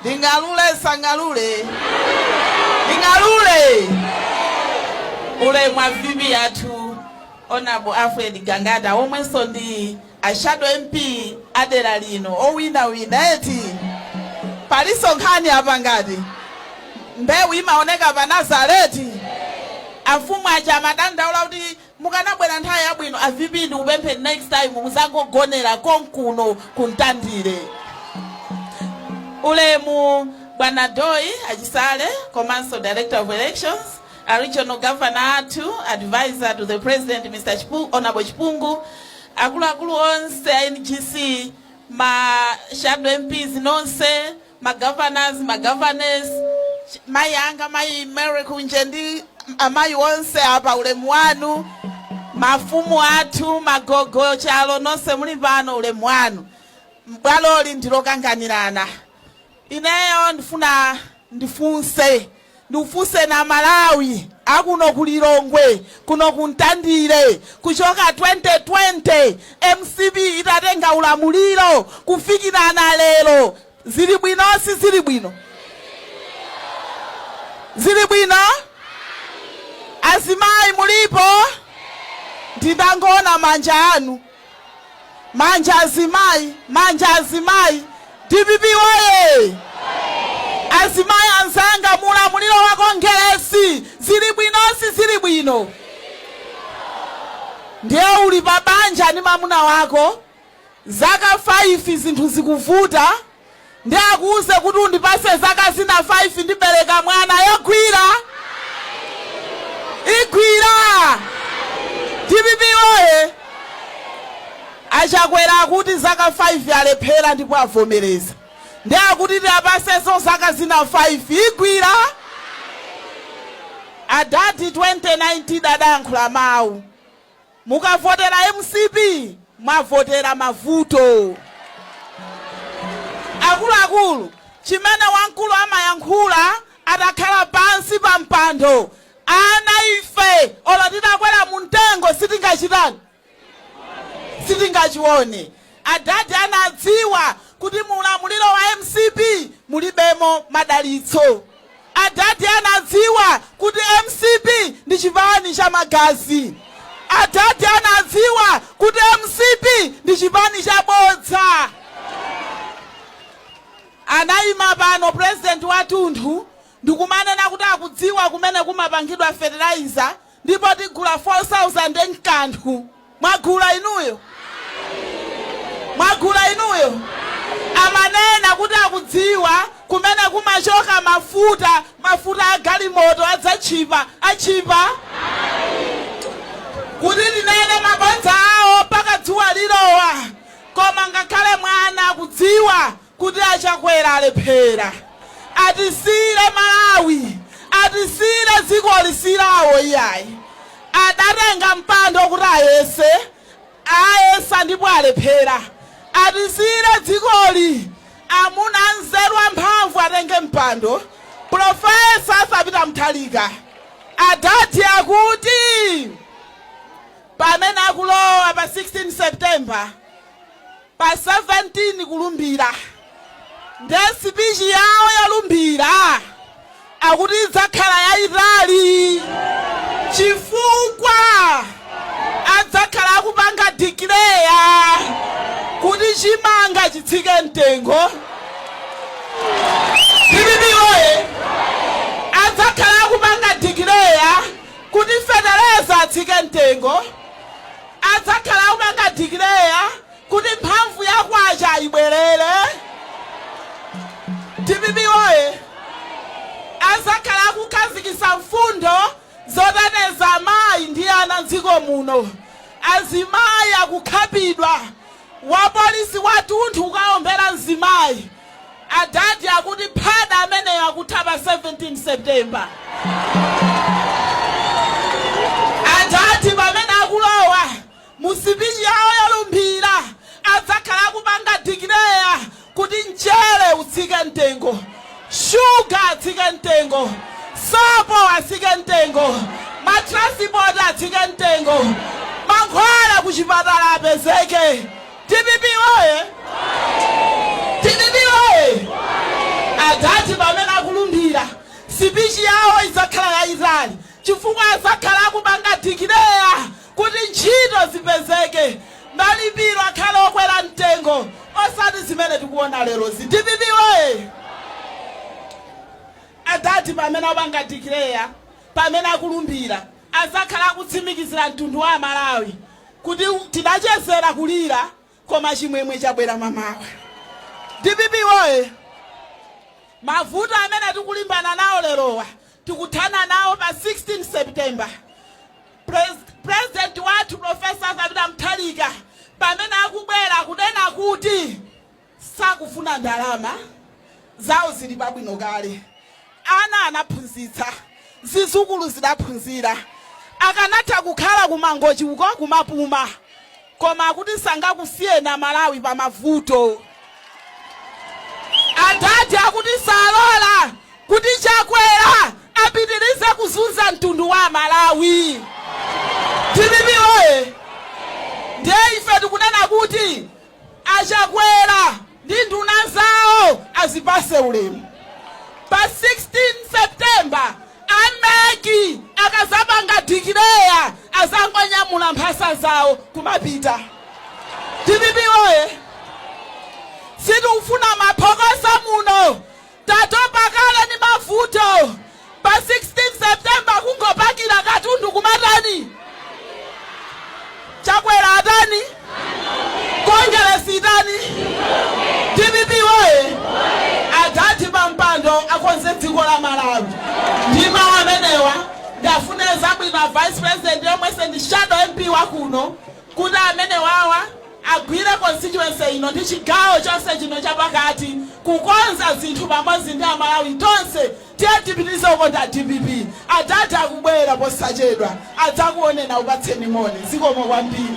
ndingalule nsangalule ndingalule ulemu avivi yathu Honorable alfred gangata omwenso ndi a shadow mp adera lino owina eti palinso nkhani apa ngati mbewu imaoneka pa nazareti afumu aja amadandaula kuti Mukanabwera nthawi yabwino a VP ndikupempheni next time muzangogonera konkuno ku Ntandire. Ulemu Bwana Doi Achisale komanso Director of Elections, a Regional Governor athu, Advisor to the President Mr. Honorable Chipungu, akuluakulu onse a NGC, ma Shadow MPs nonse, ma governors, ma governors, mayi anga mayi Mary Kunje ndi amayi onse apa ulemu wanu, mafumu athu, magogo, chalo nonse muli pano ulemu wanu. Bwaloli ndilokanganirana. Ineyo ndifuna ndifunse. Ndifunse a Malawi akuno ku Lilongwe kuno ku Ntandire kuchoka 2020 mcp itatenga ulamuliro kufikirana lero zili bwino sizili bwino? Zili bwino? Azimayi mulipo? Ndindangoona manja anu. Manja azimai manja azimai dpp woyee azimai anzanga muulamuliro wa kongelesi zili bwino sizili bwino? Ndiye uli pa banja ndi mamuna wako zaka 5 zinthu zikuvuta. Nde akuuze kuti undipase zaka zina 5 ndibeleka mwana yogwira? Igwira? Dpp woye! A Chakwera akuti zaka 5 alephera ndipo avomereza. Nde akuti tiapasenso zaka zina 5. Igwira? Adadi 2019 adayankhula mau. Mukavotera mcp mwavotera mavuto. Akuluakulu, chimene wamkulu amayankhula atakhala pansi pa mpando, ana ife olo titakwera mu mtengo sitingachitani? Sitingachione. Adadi anadziwa kuti mu ulamuliro wa mcp mulibemo madalitso. Adadi anadziwa kuti mcp ndi chipani cha magazi. Adadi anadziwa kuti mcp ndi chipani cha bodza. Anaima pano president watunthu ndikumanena kuti akudziwa kumene kumapangidwa fertilizer Ndipo tigula 4000 nkanthu mwagula inuyo? Mwagula inuyo? Amanena kuti akudziwa kumene kumachoka mafuta mafuta agalimoto adzatchipa atchipa? Kuti tinene mabodza awo mpaka dzuwa lilowa koma ngakhale mwana akudziwa Kuti a Chakwera alephera. Atisiire Malawi, atisiire dzikoli si lawo iyayi. Adatenga mpando kuti ayese, ayesa ndipo alephera. Atisiire dzikoli, amuna anzeru amphamvu atenge mpando, Prof. Arthur Peter Mutharika. Adadi akuti pamene akulowa pa 16 September. Pa 17 kulumbira nde sipichi yawo yolumbira akuti idzakhala yayitali chifukwa adzakhala akupanga declare kuti chimanga chitsike mtengo dpp woye adzakhala akupanga declare kuti fetereza atsike mtengo Adzakhala akupanga declare kuti mphamvu ya kwacha ibwerere. Dpp woye! Adzakhala akukhazikitsa mfundo zoteteza amayi ndi ana m'dziko muno. Azimayi akukhapidwa Wapolisi wathunthu kukaombera mzimayi. Adadi akuti phada ameneyo akutha pa 17 September. Adadi pamene akulowa mu sipichi yawo yolumbira adzakhala akupanga declare Kuti mchere utsike mtengo, sugar atsike mtengo, sopo atsike mtengo, matransipoti atsike mtengo, mankhwala kuchipatala apezeke. Dpp woye! Dpp woye! Adadi pamene akulumbira, sipichi yawo idzakhala yayitali chifukwa adzakhala akupanga declare Kuti ntchito zipezeke, malipiro akhale okwera mtengo osati zimene tikuona lerozi. Dpp woye! Adadi pamene apanga declare, pamene akulumbira, azakhala akutsimikizira mtundu wa Amalawi kuti tidachezera kulira koma chimwemwe chabwera mamawa dpp woye mavuto amene tikulimbana nawo lerowa tikuthana nawo pa 16 september Pres- president wathu profesa Arthur Peter Mutharika pamene akubwera kunena kuti sakufuna ndalama zawo zili pabwino kale Ana anaphunzitsa, zizukulu zidaphunzira. Akanatha kukhala ku Mangochi uko kumapuma koma akuti sangakusiyeni a Malawi pa mavuto. Adadi akuti salola kuti Chakwera apitirize kuzunza mtundu wa a Malawi. Dpp woye! Ndiye ife tikunena kuti A Chakwera ndi nduna zawo azipatse ulemu. Pa 16 September a mec akadzapanga declare adzangonyamula mphasa zawo kumapita. Dpp woye! Sitikufuna maphokoso muno. Tatopa kale ndi mavuto pa 16 September kungopakira katundu kumatani? Chakwera atani? Kongeresi itani? Dpp woye! Adadi pampando akonze dziko la Malawi ndi mawu amenewa ndafunira zabwino a Vice President yemwenso ndi Shadow MP wakuno kuti amenewawa agwire constituency ino ndi chigawo chonse chino chapakati kukonza zinthu pamodzi ndi amalawi tonse tiye tipitirize kukonda dpp adadi akubwera posachedwa adzakuoneni akupatseni moni zikomo kwambiri.